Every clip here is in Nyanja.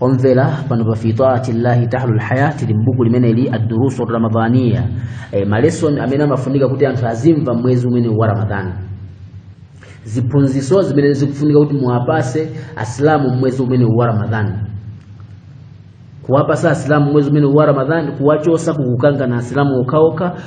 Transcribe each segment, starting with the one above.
omvera pano pa fi taati llahi tahlu lhaya tili m'buku limeneli addurusu ramadaniya e, ma lesson amene amafunika kuti anthu azimva mwezi umene wa ramadhani ziphunziso zimene zikufunika kuti muwapase asilamu mwezi umene wa ramadhani kuwapasa asilamu mwezi umene wa ramadhani kuwachosa kukukangana asilamu okhaokha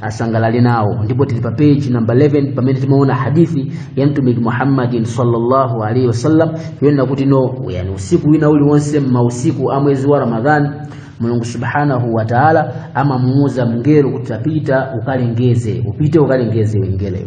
asangalale nawo ndipo tili pa page number 11 pamene timaona hadithi ya mtumiki muhammadin sallallahu alaihi wasallam yonena kuti no yani usiku wina uliwonse mmausiku a mwezi wa ramadhani mulungu subhanahu wa taala amamuuza mngelo kuti tapita ukalengeze upite ukalengeze mngeloyo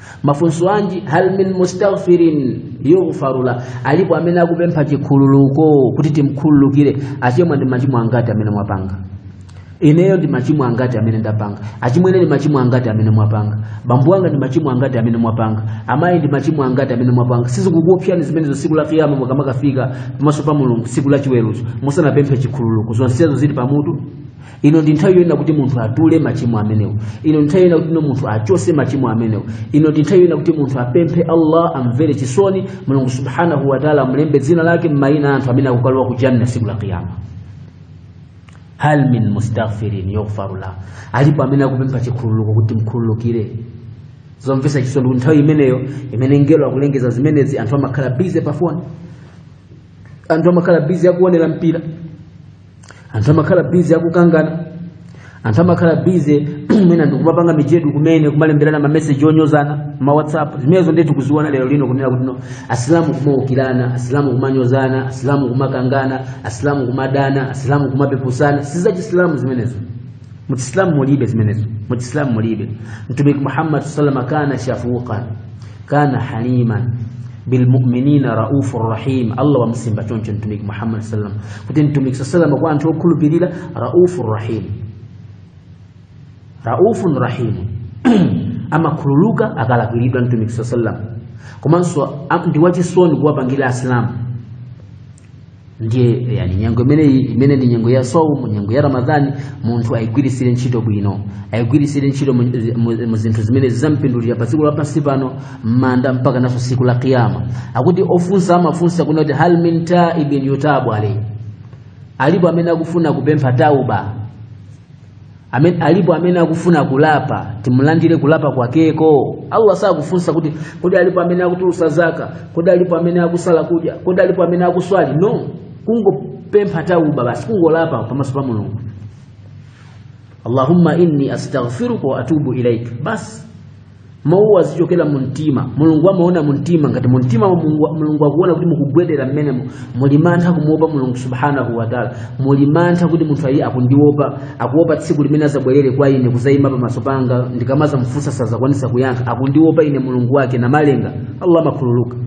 mafunso anji hal min mustaghfirin yughfaru la alipo amene akupempha chikhululuko kuti timkhululukire achimwene ndi machimo angati amene mwapanga ineyo ndi machimo angati amene ndapanga achimwene ndi machimo angati amene mwapanga bambo wanga ndi machimo angati amene mwapanga amayi ndi machimo angati amene mwapanga sizikukuopsyani zimenezo siku la kiyama mukamakafika pamaso pa mulungu siku la chiweruzo musanapemphe chikhululuko zonsezo zili pamutu ino ndi nthawi yonena kuti munthu atule machimo amenewo ino ndi nthawi yonena kuti munthu achose machimo amenewo ino ndi nthawi yonena kuti munthu apemphe allah amvere chisoni mulungu subhanahu wataala amulembe dzina lake mmaina a anthu amene akukalowa ku janna siku la kiyama hal min mustaghfirin yughfaru la alipo amene akupempha chikhululuko kuti mkhululukire zomvesa chisoni kuti nthawi imeneyo imene mngelo akulengeza zimenezi anthu amakhala bize pafoni anthu amakhala bize akuonera mpira anthu amakhala bize akukangana anthu amakhala bize mwina ndikumapanga mijedo kumene kumalemberana mameseji onyozana ma whatsapp zimenezo ndiye tikuziona lero lino kunena kuti no asilamu kumaukirana asilamu kumanyozana asilamu kumakangana asilamu kumadana asilamu kumapepusana si zachisilamu zimenezo muchisilamu mulibe zimenezo muchisilamu mulibe mtumiki muhammad salama kana shafuqan kana haliman bilmuminina raufu rahim allah wamusimba choncho mtumiki muhammad sallam kuti mtumiki saa salama kwa anthu okhulupirira raufu rahim raufun rahim amakhululuka akalakwiridwa mtumiki saa sallam komanso a- ndi wachisoni kuwapangira asilamu ndiye yani nyengo imeneyi imene ndi nyengo ya saumu nyengo ya ramadhani munthu ayigwirisire ntchito bwino ayigwirisire ntchito mu- mu- mu zinthu zimene zizampindulira pa siku lapansi pano m'manda mpaka naso siku la kiyama akuti ofunsa amafunsa kunena kuti hal min taibin yutabu alayhi alipo amene akufuna kupempha tauba alipo amene akufuna kulapa timulandire kulapa kwakeko allah sakufunsa kuti kodi alipo amene akutulusa zaka kodi alipo amene akusala kudya kodi alipo amene akuswali no kungopempha tauba basi kungolapa pamaso pa mulungu allahumma inni astaghfiruka wa atubu ilaik basi mawu azichokera mu mtima mulungu amaona mu mtima ngati mu mtima mwanumo mulungu akuona kuti mukugwedera mmenemo muli mantha kumuopa mulungu subhanahu wataala muli mantha kuti munthuyu ayi akundiopa akuopa tsiku limene azabwerere kwa ine kuzayima pamaso panga ndikamazamfunsa sazakwanisa kuyankha akundiopa ine mulungu wake namalenga allah amakhululuka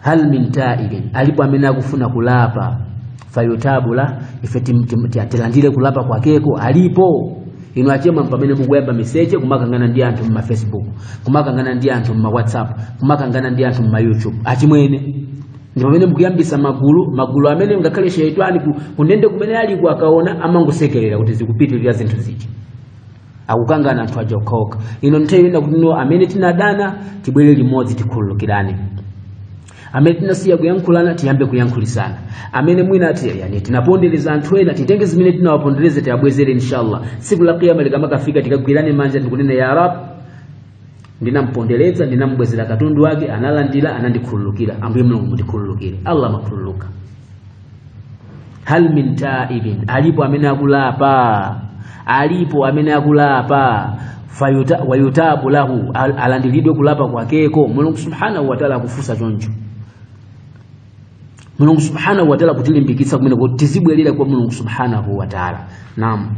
hal min taibin alipo amene akufuna kulapa fayutabu la ife ti- ti- ti- tilandire kulapa kwakeko alipo inu achemwa pamene mukuyamba miseche kumakangana ndi anthu mma facebook kumakangana ndi anthu mma whatsapp kumakangana ndi anthu mma youtube achimwene ndi pamene mukuyambisa magulu magulu amene ngakhale sheitani ku- kundende kumene aliko akaona amangosekerera kuti zikupitirira zinthu zija akukangana anthu aja okhaokha ino ndi nthawi yonena kuti no amene tinadana tibwere limodzi tikhululukirane amene tinasiya kuyankhulana tiyambe kuyankhulisana amene mwina ati yani tinapondereza anthu ena titenge zimene tinawapondereza tiabwezere inshallah tsiku la kiyama likamafika tikagwirane manja ndikunena ya rab ndinampondereza ndinambwezera katundu wake analandira anandikhululukira ambuye mulungu mundikhululukire allah amakhululuka hal min taibin alipo amene akulapa alipo amene akulapa fayuta fayutabu lahu al- alandiridwe kulapa kwakeko mulungu subhanahu wataala akufunsa choncho mulungu subhanahu wataala kutilimbikitsa kumene kuti tizibwerera kwa mulungu subhanahu wataala naam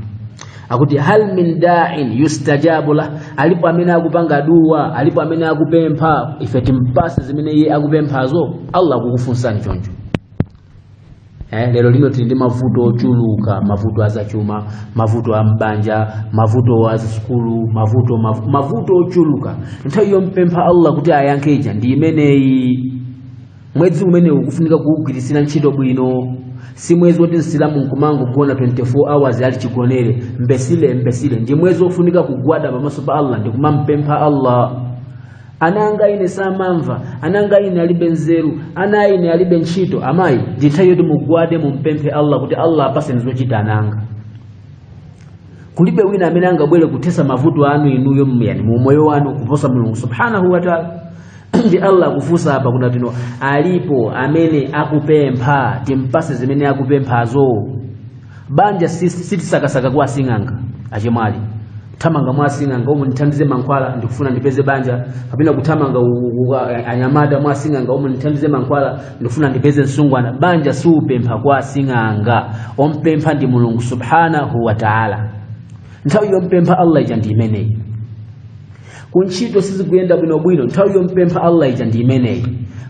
akuti hal min da'in yustajabu lah alipo amene akupanga dua alipo amene akupempha ife timpase zimene iye akupemphazo allah akukufunsani choncho eh lero lino tili ndi mavuto ochuluka mavuto azachuma mavuto a m'banja mavuto a sukulu mav- mavuto ochuluka nthawi yompempha allah kuti ayankhe ija ndi imeneyi mwezi umenewu ukufunika kuwugwirisira ntchito bwino si mwezi woti msilamu nkumangogona 24 hours ali chigonere mbesile mbesile ndi mwezi wofunika kugwada pamaso pa allah ndikumampempha allah ana anga ine samamva ana anga ine alibe nzeru ana ine alibe ntchito amayi ndi nthawi yoti mugwade mumpemphe allah kuti allah apaseni zochita ana anga kulibe wina amene angabwere kuthesa mavuto anu inuyo mu umoyo wanu kuposa mulungu subhanahu wataala ndi allah akufunsa apa kunena kuti no alipo amene akupempha timpase zimene akupemphazo banja sitisakasaka kwa asing'anga achemwali kuthamanga mwa asing'anga umu ndithandize mankhwala ndikufuna ndipeze banja kapena kuthamanga u- u- a- anyamata mwa asing'anga umu ndithandize mankhwala ndikufuna ndipeze msungwana banja siupempha kwa asing'anga ompempha ndi mulungu subhanahu wa taala nthawi yompempha allah ija ndi imeneyi kuntchito sizikuyenda bwinobwino nthawi yompempha allah ija ndi imeneyi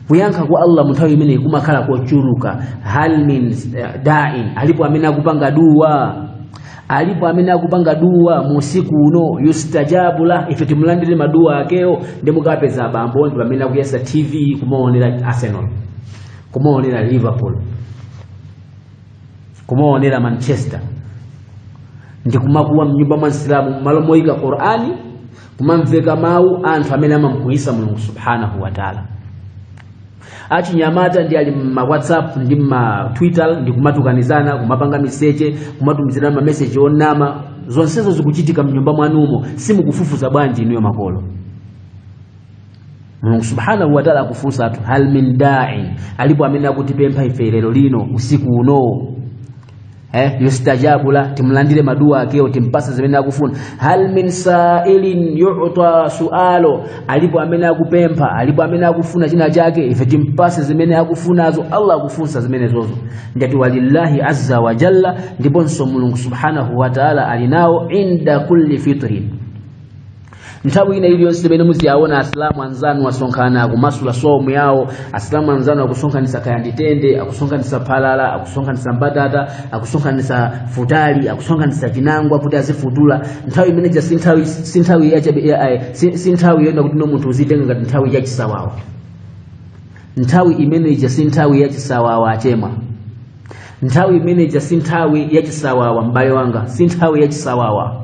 kuyankha kwa allah mu nthawi imeneyi kumakhala kochuluka hal min dain alipo amene akupanga duwa alipo amene akupanga duwa mu usiku uno yustajabu lah ife timulandire maduwa akewo ndi mukapeza abambo ndi pamene akuyatsa tv kumaonera arsenal kumaonera liverpool kumaonera manchester ndi kumakuwa mnyumba mwa msilamu mmalo moyika qur'ani kumamveka mawu anthu amene amamkwiyitsa mulungu subhanahu wa taala achinyamata ndi ali mma whatsapp ndi mma twitter ndi kumatukanizana kumapanga miseche kumatumizirana mameseji onama zonsezo zikuchitika mnyumba mwanumo simukufufuza bwanji inuyo makolo mulungu subhanahu wataala akufunsa anthu hal min dain alipo amene akutipempha ife lero lino usiku uno yustajabu la timlandire maduwa akewo timpatse zimene akufuna hal min sailin yuta sualo alipo amene akupempha alipo amene akufuna china chake ife timpatse zimene akufunazo allah akufunsa zimenezozo ndati walillahi azza wa jalla ndiponso mulungu subhanahu wataala ali nawo inda kulli fitrin nthawi ina iliyonse imene muziyaona asilamu anzanu asonkhana akumasula somu yawo asilamu anzanu akusonkhanisa kaya ndi tende akusonkhanisa phalala akusonkhanisa mbatata akusonkhanisa futali akusonkhanisa chinangwa kuti azifutula nthawi imene ija si nthawi yonena kuti no munthu uzitenga ngati nthawi yachisawawa nthawi imene ija si nthawi yachisawawa achema nthawi imene ija si nthawi yachisawawa m'bale wanga si nthawi yachisawawa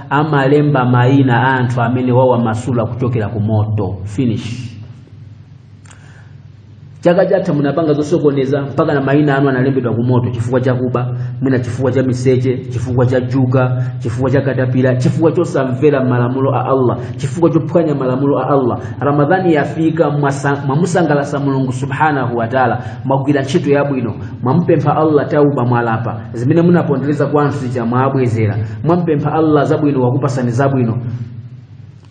amalemba mayina a anthu amene wawamasula kuchokera ku moto finish chaka chatha munapanga zosokoneza mpaka na mayina anu analembedwa ku moto chifukwa cha kuba mwina chifukwa cha miseche chifukwa cha juga chifukwa cha katapira chifukwa chosamvera malamulo a allah chifukwa chophwanya malamulo a allah ramadhani yafika mwamusangalatsa mulungu subhanahu wataala mwagwira ntchito yabwino mwamupempha allah tauba mwalapa zimene munapondereza kwa anthu zija mwabwezera mwampempha allah zabwino wakupatsani zabwino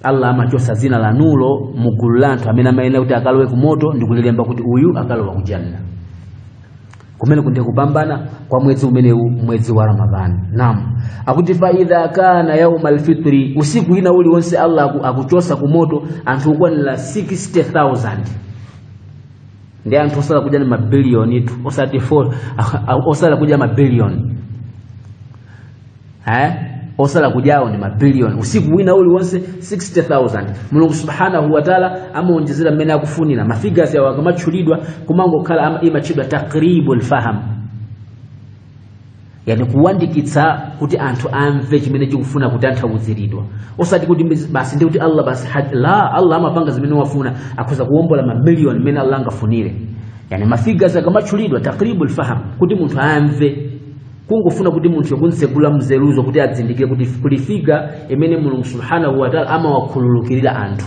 allah amachotsa dzina lanulo mu gulu la anthu amene amayenera kuti akalowe ku moto ndi kulilemba kuti uyu akalowa ku janna kumeneku nde kupambana kwa mwezi umenewu mwezi wa ramadhani nam akuti fa idha kana yauma alfitri usiku wina uliwonse allah akuchotsa ku moto anthu okwanira 60000 ndi anthu osala kudya ndi mabiliyonitu osati 4 osala kudya mabiliyoni osala kudyawo ndi mabiliyoni usiku wina uliwonse 60000 mulungu subhanahu wataala amaonjezera mmene akufunira mafigasi awo akamatchulidwa kumangokhala imatchedwa takribul faham yani kuyandikitsa kuti anthu amve chimene chikufuna kutanthauziridwa osati kuti mbizi- basi ndi kuti allah basi had- la allah amapanga zimene wafuna akhoza kuwombola mamiliyoni mmene allah angafunire yani mafigures akamatchulidwa taqribu lfaham kuti munthu amve kungofuna kuti munthu yokunsegula mzeruzo kuti adzindikire kuti kuli figure imene mulungu subhanahu wataala amawakhululukirira anthu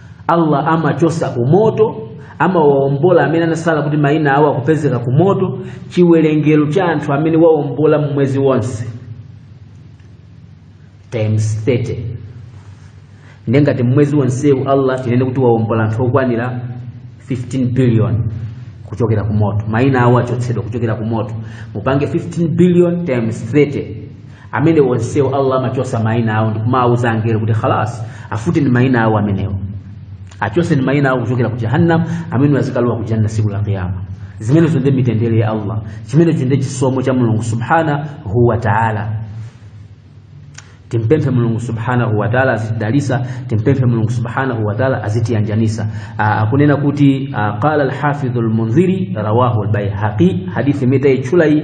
allah amachotsa ku moto amawaombola amene anatsala kuti mayina awo akupezeka ku moto chiwerengero cha anthu amene waombola mmwezi wonse times 30 ndiye ngati mmwezi wonsewu allah tinene kuti waombola anthu okwanira 15 billion kuchokera ku moto mayina awo achotsedwa kuchokera ku moto mupange 15 billion times 30 amene onsewo allah amachotsa maina awo ndikumawuza angelo kuti khalas afuteni maina awo amenewo achotseni maina awo kuchokera ku jahannam amene adzikalowa ku janna siku la qiyama zimenezo ndi mitendere ya allah chimenecho ndi chisomo cha mulungu subhanahu wa taala timpemphe mulungu subhanahu wa taala azitidalisa timpemphe mulungu subhanahu wa taala azitiyanjanisa Ah, akunena kuti ah, qala alhafidhu lmundhiri rawahu lbaihaqi hadithi imene taitchula iyi